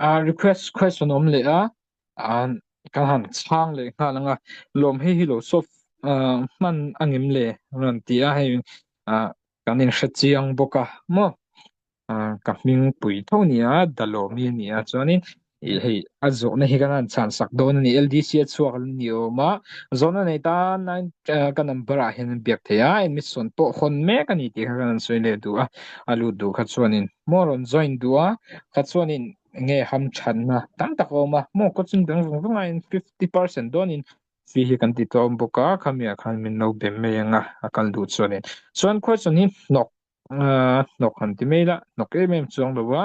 Aa request question awm leh a aa kan han chhang leh nghal anga lawm hi hi lo solve aa hman a ngem le rawn ti a hei aa. Kan inhrechiang bawk a maw? Ka hming pui tho nia, Dalomi a nia. Chuanin i hei a zawhna hi kan han chhansak dawn a ni. LDC a chhuak alh ni awm a. Zawhna nei tan a ka number ah hian an biak thei a, admit sawn pawh hawn mek a ni tih kha kan han sawi leh duh a. A lut duh kha chuanin maw rawn join duh a, kha chuanin nge hamthatna tam tak a awm a maw? Coaching dang vang vangin fifty percent dawnin Fee hi kan tih tawh a awm bawk a, khami ah khan min lo bem mai ang a, a kal duh chu a nen. Chuan question hi hnawk aaa hnawk han ti mai la, hnawk em em chu ang lo a,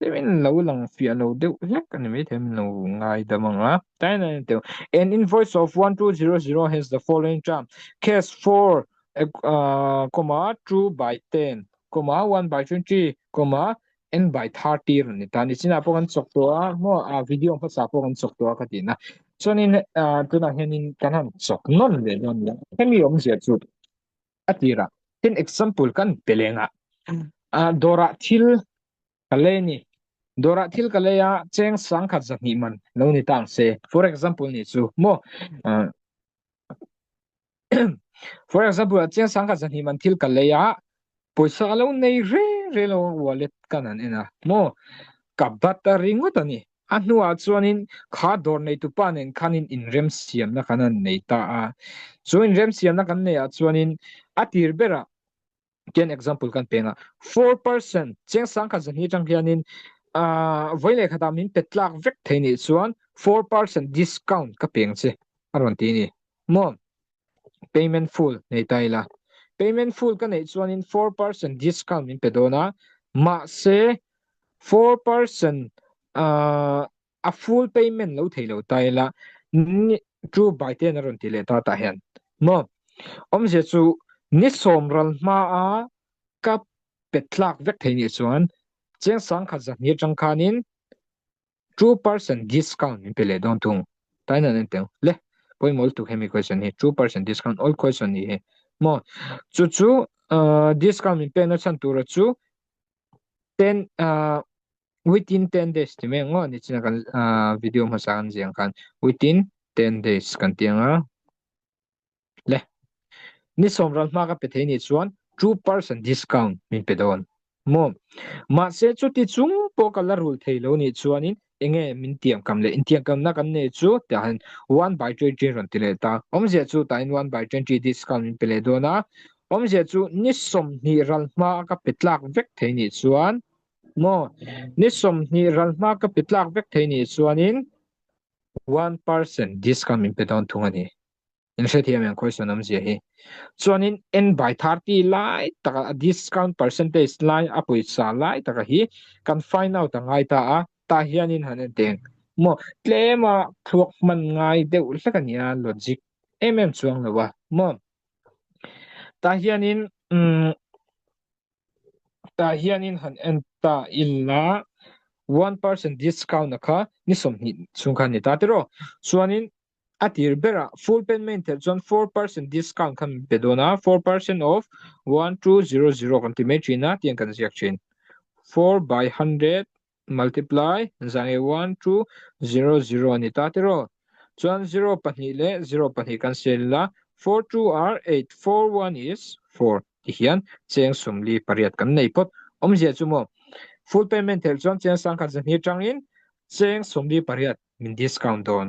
hei min lo lang fiah lo deuh hlek a ni maithei a min lo ngai dam ang a, tlai a ni teh. An invoice of one two zero zero has the following term, cash four aaa comma two by ten comma one by twenty comma en bai thar tir an ni ta nichin ah pawh kan chawk tawh a maw a video ang hmasa pawh kan chawk tawh a ka ti na chuanin tunah hianin kan han chawk nawn leh dawn nia hemi awm zia chu a tirah tin example kan pe lenga a dora thil ka lei ni dora thil ka leia cheng sang khat za hnih man lo ni tang se for example ni chu maw for example a chiang sang kha zahnim an thil ka lei a poisa alo nei re re lo wallet kan an en a mo ka bat a ring ngawt a ni a hnua chuan in kha dawr nei tu pa nen khan in in rem siam na kan an nei ta a chu in rem siam na kan nei a chuan in a tir ber a Ken example kan peng a four person chengsang khan zan hi tang hianin a voi leh khata min pet tlak vek thei ni chuan four person discount ka peng che a rawn ti ni mo payment full nei tai la payment full ka nei chuan in four person discount min pe dona ma se four person a a full payment lo thei lo ta ila ni chu bai te in a rawn ti leh ta tah hian maw awmzia chu ni sawm ral hma a ka pe tlak vek thei nih chuan chiang sangkhat zahmir tang khanin two percent discount min pe leh dawn thung tain an en teng le pawimawh lutuk hemi question hi two percent discount all question ni hi maw chu chu discount min pekna chhan tura chu ten within ten days ti mai ang maw ni china kan ah video hmasa kan zia ang khan within ten days kan ti ang a le ni som ran hma ka pe thei ni chuan two percent discount min pe don mo ma se chu ti chung po ka la rul thei lo ni chuan in enge min tiang kam le in tiang kam na kan nei chu ta han one by twenty ran ti le ta om zia chu ta in one by twenty discount min pe le dona om zia chu ni som ni ral hma ka pe tlak vek thei ni chuan Maw ni sawmhnih ralhma ka pe tlak vek thei nih chuanin one person discount min pe dawn thung a ni. In hre thiam em khawisawn awmzia hi. Chuanin en by thirty lai taka a discount percentage lai a pawisa lai taka hi kan find out a ngai ta a, tah hianin han en teng. Maw tlema thluak hman ngai deuh hlek a nia logic em em chuang lo a maw. Tah hianin umm tah hianin han en ta ila one percent discount a kha ni sawmhnih chung khan ni ta tih rawh chuanin a tir bera full pen main tel chuan four percent discount khan be dawn a four percent of one two zero zero kan ti mai thin a tiang kan ziak thin four by hundred multiply zang e one chu zero zero a ni ta tir aw chuan zero pahnih leh zero pahnih kan sel la four two ar eight four one is four ti hian cheng sum li pariat kan nei phawt awmzia chu maw full payment theih chuan cheng sang khat zahni tangin cheng sum li pariat min discount dawn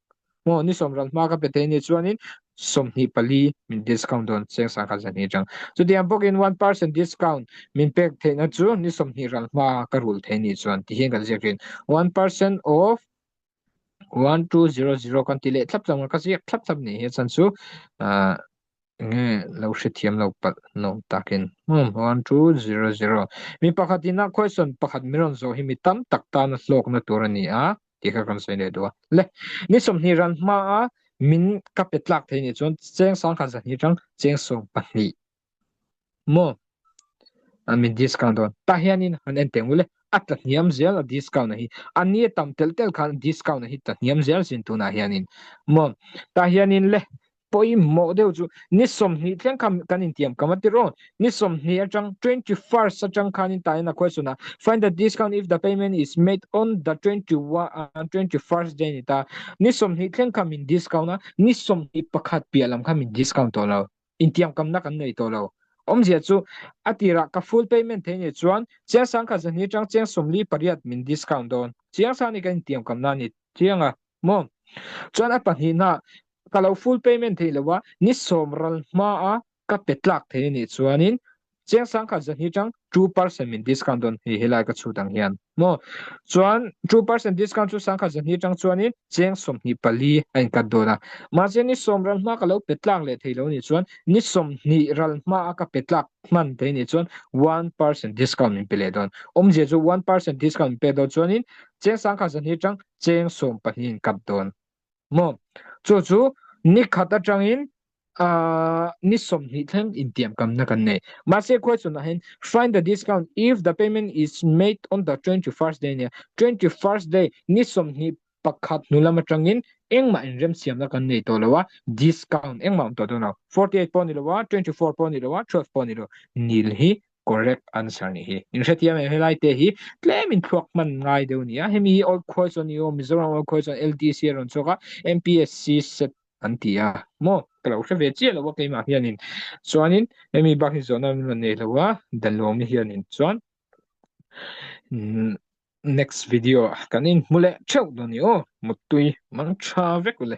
Aw ni sawm ran hma ka pe thei ni chuanin sawmhnih pali min discount dawn seng sangha zan hi chang chutiang bawkin one percent discount min pek theihna chu ni sawmhnih ral hma ka rul thei ni chuan ti hian kan ziak thin one percent off one two zero zero kan ti leh thlap chang ka ziak thlap thlap ni hi chan chu Enge lo hrethiam lo palh nawm takin hmawm hawn chu zero zero. Mi pakhat in a question pakhat min rawn zawh hi mi tam tak tan a hlawkna tur a ni a tih kha kan sawi leh duh a. Le, ni sawmhnih ran hma a min ka pe tlak thei nih chuan Chengsang kha zahni tang Chengsawm pahnih. maw an min discount dawn tah hianin han en teng vele a tlahniam zel a discount a hi ani a tam tel tel khan discount a hi tlahniam zel sin tunah hianin maw tah hianin le pawimawh deuh chu ni sawmhnih thleng kha kan intiam ka mati rawh ni sawmhnih atang twenty first atang khanin tahin a question a find the discount if the payment is made on the twenty one twenty first day ni ta ni sawmhnih thleng kha min discount a ni sawmhnih pakhat piah lam kha min discount tawh lo Intiamkamna kan nei tawh lo. Awmzia chu, a tirah ka full payment theih ni chuan Chiangsan kha zahni chang cheng sawmli pariat min discount dawn. Chiangsan hi ka intiamkamna a ni chiang a, maw? Chuan a pahnih hna ka lo full payment theih lo a, ni sawm ral hmaa ka pe tlak thei a nih chuanin Chiang sang kha zahni chang two percent min discount dawn hei helai ka chhut ang hian maw chuan two percent discount chu sang kha zahni chang chuanin cheng sawmhnih pali a in cut dawn a mahse ni sawm ral hma ka lo pe tlak leh thei lo nih chuan ni sawmhnih ral hma a ka pe tlak hman thei nih chuan one percent discount min pe leh dawn awm zia chu one percent discount min pek dawn chuanin cheng sang kha zahni chang cheng sawm pahnih a in cut dawn. maw? Chu chu ni khat atangin ni sawmhnih thleng intiamkamna kan nei. Mahse khuaichunah hian find the discount if the payment is made on the twenty first day nia, twenty first day ni sawmhnih pakhat hnulam atangin engmah in remsiamna kan nei tawh lo a, discount engmah awm tawh dawn lo. Forty eight pawh ni lo a, twenty four pawh ni lo a, twelve pawh ni lo, nil hi Correct answer ni hi. In hretia mai he lai te hi tlem in thluak man ngai deuh nia. Hemi hi old khual chuan ni aw Mizoram old khual chuan LDC a rawn chhuak a MPSC set an ti a maw ka lo hre ve chiah lo a keimah hianin chuanin hemi bak hi zawhna min rawn nei lo a Dalomi hianin chuan next video kan in hmu leh theuh dawn ni aw mutui mang tha vek ule